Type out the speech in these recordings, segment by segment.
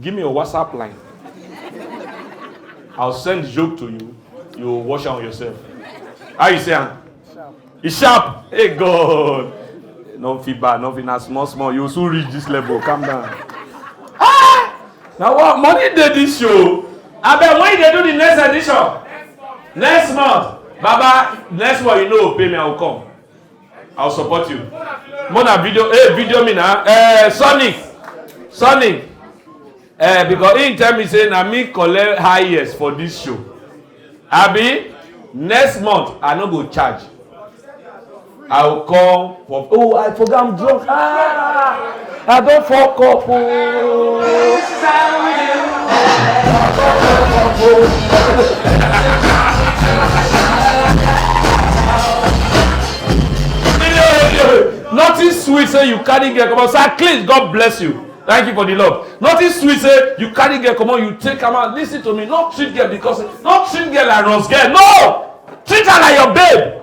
Give me your WhatsApp line. I'll send the joke to you. You wash on yourself. How you say am? Sharp. E sharp. Hey God. No fit bad, no fit na small small. You soon reach this level. Calm down. Ah! Na what money dey this show? Abeg when you dey do the next edition? Next month. Baba, next one you know pay me, I will come. I'll support you. Mona video, hey, eh, video me now. Eh, Sonny, Sonny. Eh, because he tell me say na me collect highest for this show. Abi, next month I no go charge. I will call for. Oh, I forgot I'm drunk. Ah! I don fuck up ooo. Oh. Nothing sweet say you carry girl comot sir please God bless you thank you for the love nothing sweet say you carry girl comot you take am out lis ten to me no treat girl because no treat girl like rose girl no treat her like your babe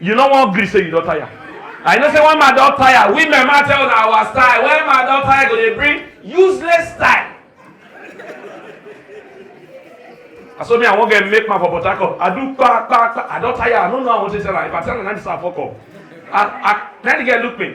you no wan gree say you don tire i know say when my don tire women ma tell una our style when my don tire go dey bring useless style na so me i wan get make man for port harcourt i do kpa kpa kpa i don tire i no know how i wan take tell am if i tell am na this one i fok up i i na the girl look me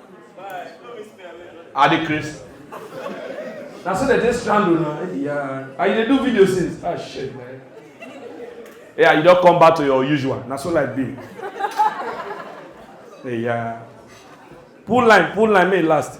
Adikris. Na so they dey strangle na. Yeah. And you dey do video since. Ah shit man. Yeah, you don come back to your usual. Na so life be. Yeah. Pull line, pull line, may e last.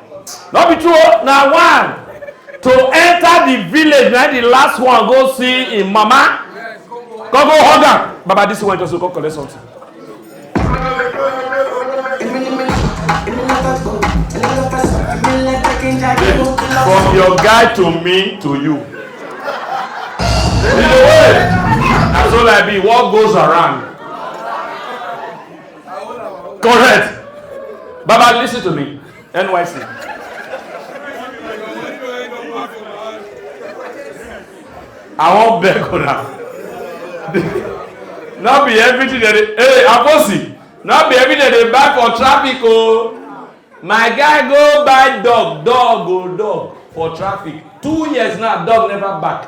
no be true oh, na one to enter the village na the last one go see him mama come go hug am baba this one just go come collect something. From your guy to me to you. In the way, that's all I be. What goes around correct baba listen to me nyc. i wan beg una no be everything dey dey hey aposi no be everything dey dey buy for traffic o oh. my guy go buy dog dog o oh, dog for traffic two years now dog never back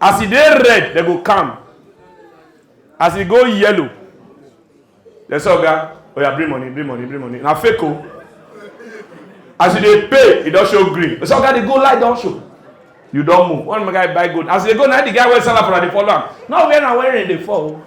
as e dey red dem go calm as e go yellow dem say oga oya bring money bring money bring money na fake o as you dey pay e don show green dem say oga dey go light don show you don move one guy buy gold as e dey go na the guy wey sell am for na dey follow am no where na where rain dey fall o.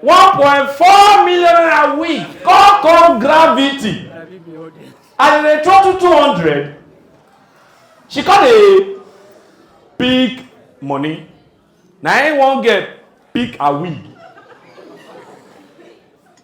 one point four million naira wig come come gravity and dem throw two two hundred she come dey pick money na im one girl pick her wig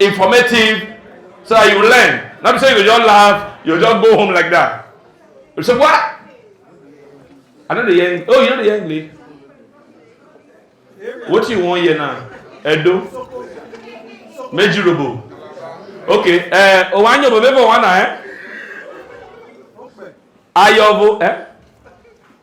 informative so that you learn no be say you go just laugh you go just go home like that you say what i no dey hear english oh you no dey hear english wetin you wan hear now edo meji robo okay eh owa anyo bo bebo wana eh ayobo eh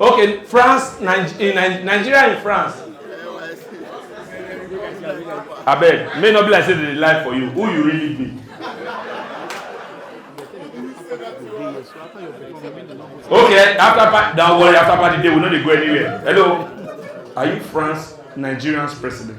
Okay, France, Nigeria, Nigeria and France. I beg, may not be like say they lie for you. Who you really be? Okay, after party, don't worry, after party day, we no dey go anywhere. Hello, are you France, Nigerian's president?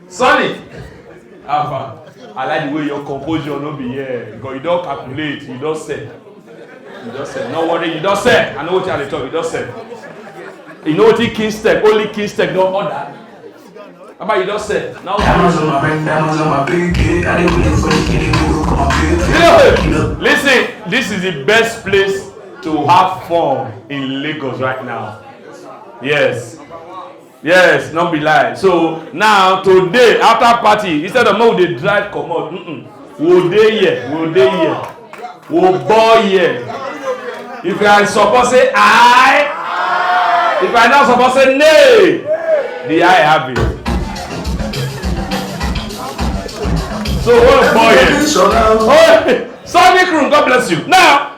Sonny! How far? I like the way your composure no be here. God, you don calculate, you don set. You don set. No worry, you don set. I know what you are dey talk, you don set. You know wetin king step, only king step don order. Baba, you don set. Now, Diamonds on my ring, diamonds on my pinky. I didn't wait for the kitty to come up here. listen, this is the best place to have fun in Lagos right now. Yes. yes no be lie so now today after party instead of make we dey drive comot mm -mm. we dey here we dey here we ball here if i support say i if i no support say nay the i have it so we ball here oh sunny crew god bless you now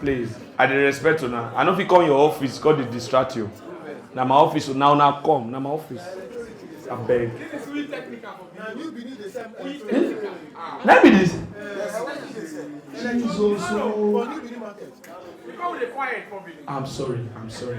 please i dey respect una i no fit come your office come dey distract you na my office una una come na my office abeg. na be this. jesus ooo. Oh. i'm sorry i'm sorry.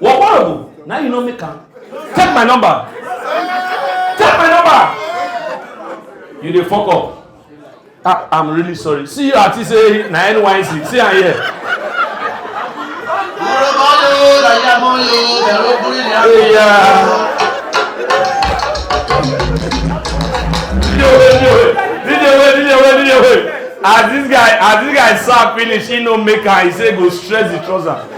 What horrible? Now you know me can. Take my number. Take my number. You dey fuck up. Ah, I'm really sorry. See you at say na NYC. See am here. Yeah. as this guy as this guy serve finish he no make am he say go stretch the trouser.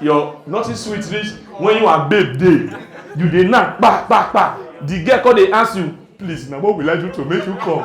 your nothing sweet reach when you and babe dey you dey knack kpa kpa kpa the girl come dey ask you please na what will i do to make you come.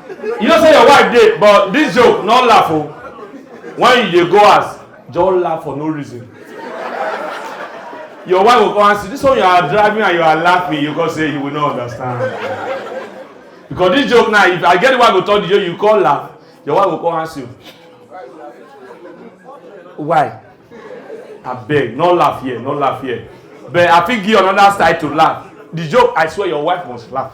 you know say your wife dey but this joke no laugh o when you dey go house just laugh for no reason your wife go come ask you this one you are driving and you are laughing you go say you will not understand because this joke now if i get the wife go talk the joke you come laugh your wife go come ask you why abeg no laugh here no laugh here but i fit give you another style to laugh the joke i swear your wife must laugh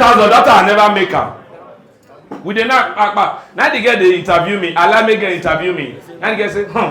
thousand that I never make am we dey knack kpakpa na the girl dey interview me alamege interview me na the girl say hmm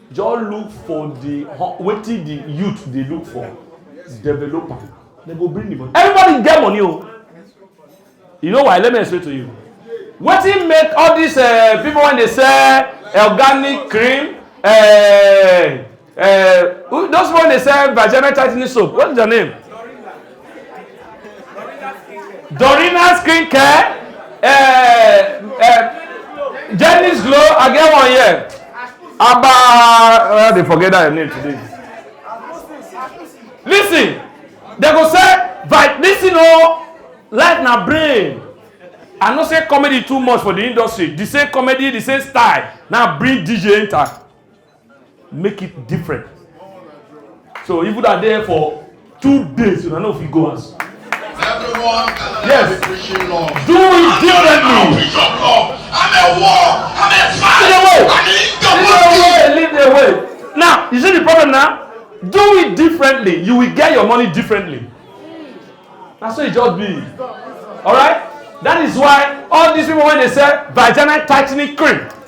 Just look for the wetin the youth dey look for, develop am. They go bring the money. Everybody get money o. You know why? Let me explain to you. Wetin make all these uh, people when they sell organic cream, uh, uh, those people when they sell vagina tightening soap, what is their name? Dorina skincare uh, eh, uh, eh, Jenny's Glow I get one here Abba uh, eh, they forget that name today listen they go say but listen o oh, life na brain i know say comedy too much for the industry the same comedy the same style now bring dj enter make it different so even though i dey here for two days una no fit go house Everyone can Yes. be preaching love. do it I'm differently preaching of love. I'm a war. I'm a fight. Lead the way. I'm in the lead the way. way lead the way now you see the problem now do it differently you will get your money differently na so e just be alright that is why all these people wey dey sell vagina tightening cream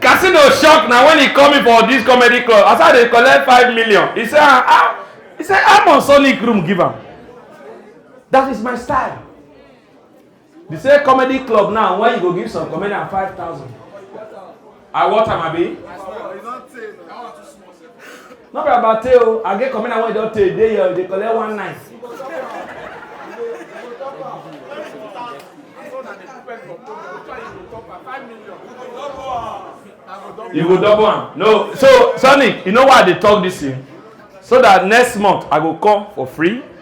Casino shock na when he come in for this comedy club as I dey collect five million he say ah, ah he say I'm on sonic room give am that is my style the same comedy club now when you go give some comedian five thousand I want am abi. no be about tey o i get commander wey don tey dey here dey collect one night. you go double am no so sonny you know why i dey talk this thing so that next month i go come for free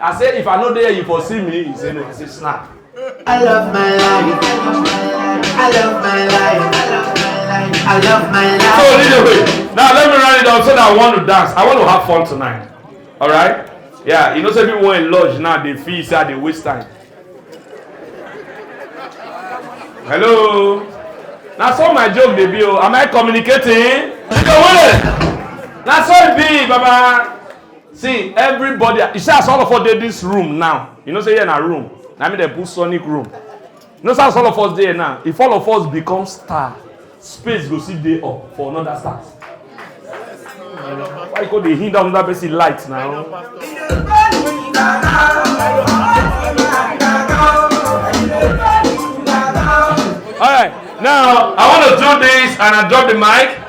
I say if I no dey you for see me, he say no, I say snap. I love my life. I love my life. I love my life. So lead the way. Now let me run it down so that I want to dance. I want to have fun tonight. All right? Yeah, you know say people in lodge now they feel say they waste time. Hello. Now so my joke dey be o. Am I communicating? Now so it be, Baba. see everybody you see as all of us dey this room now you know say here na room na me dey put sonic room you know say as all of us dey now if all of us become star space go still dey up for another star why you go dey hinder another person light now. All right, now I want to do this and I drop the mic.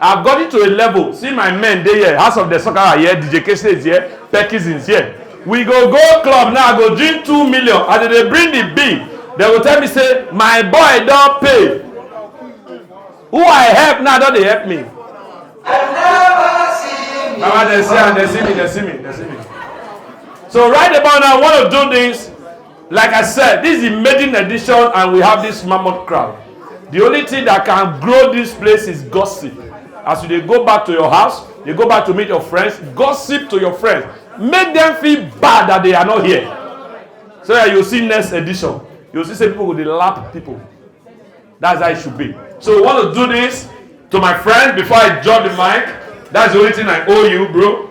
I have gotten to a level, see my men dey here, House of the Sokara here, DJ Kese is here, Perkins is here. We go go club now, I go drink two million, as they dey bring the bill, they go tell me say, my boy don pay. Who I help now don dey help me. Baba, they see am, they see me, they see me, they see me. So right about now, I want to do this Like I said, this is the maiden edition and we have this mammoth crowd. The only thing that can grow this place is gossip. As you dey go back to your house, you go back to meet your friends, gossip to your friends. Make them feel bad that they are not here. So that you see next edition. You see say people go dey lap people. That's how it should be. So we want to do this to my friend before I drop the mic. That's the only thing I owe you, bro.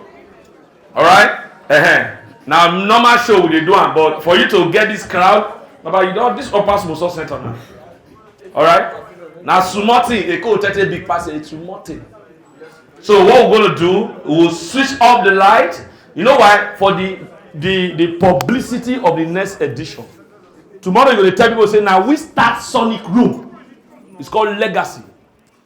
alright uh -huh. na normal show we dey do am but for you to get this crowd baba you don this upper small small center na alright na small thing eko tete big pass a small thing so what we gonna do we will switch off the light you know why for the the the publicity of the next edition tomorrow you go dey tell people say na we start sonic room it's called legacy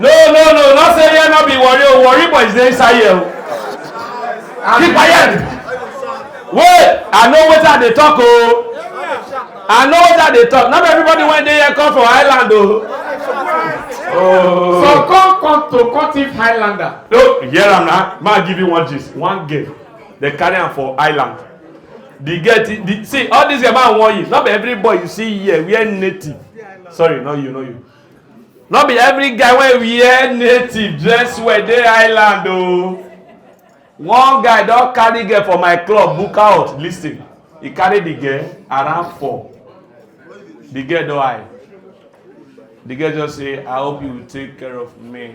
no no no no say here no be worry o worry boys dey inside here o keep quiet wait i know wetin i dey talk o i know wetin i dey talk no be everybody wey dey here come for island o. Oh. So come come to Cotif Highlander. No, hear am na. Ma give you one gist. One girl, they carry am for island. the girl the, the see all these yama wan use no be every boy you see here wear native sorry no you no you no be every guy wey wear native dress well dey island o oh. one guy don carry girl for my club book out lis ten he carry the girl around four the girl don high the girl just say i hope you take care of me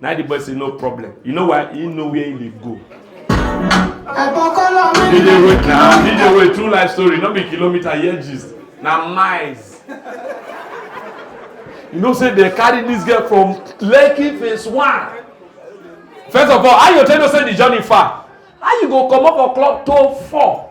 Now the boy say no problem. You know why? He know where he dey go. DJ Roy na DJ Roy true life story no be kilometer here gist na miles. You know say they carry this girl from Lekki phase one. First of all, how you tell you say the journey far? How you go comot for club to four?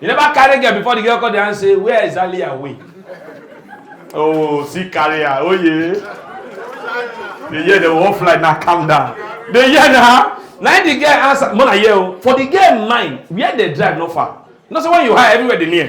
you never carry girl before the girl call the hand say where is ali away oh see carry her oh yeah the year the whole flight na calm down the year na na the girl answer mona hear o oh. for the girl mind where they drive no far you know say when you high everywhere dey near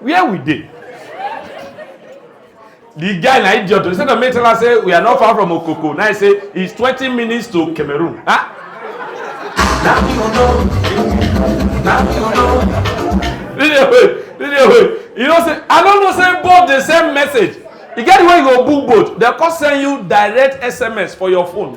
where we dey the guy na idiot instead of me tell am say we are not far from okoko now he say it's twenty minutes to cameroon ah. na me you know na me you know. dj wey dj wey you know say i no know say both dey send message e get the way you go book boat dem come send you direct sms for your phone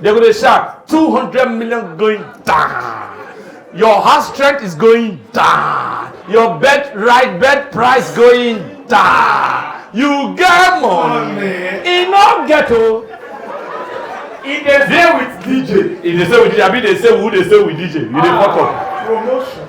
They go dey shout, 200 million going down. Your house strength is going down. Your bed right bed price going down. You get money. E no get o. E dey stay with DJ. E dey stay with DJ. Abi dey stay with who dey stay with DJ? You dey fuck up. Promotion.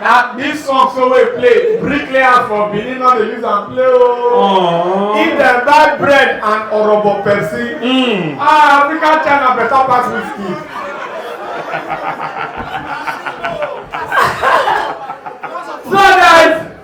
na this song so wey play bricklayers for benin no dey use am play ooo oh. if dem buy bread and orobo pepsi mm. ah african china better pass whiskey. so guys.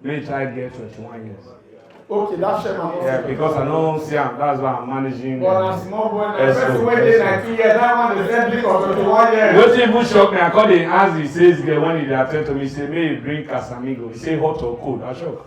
When child get 21 years. Okay, that share my Yeah, because I know see am, that's why I'm managing. But na small boy na person wey dey nineteen years, that one dey send me for twenty-one years. Wetin even shock me, I come dey ask the sales girl when he dey attend to me, he say make he bring Casamigo, he say hot or cold, I shock.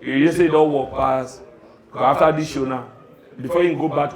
You hear say you don work pass after this show now before you go back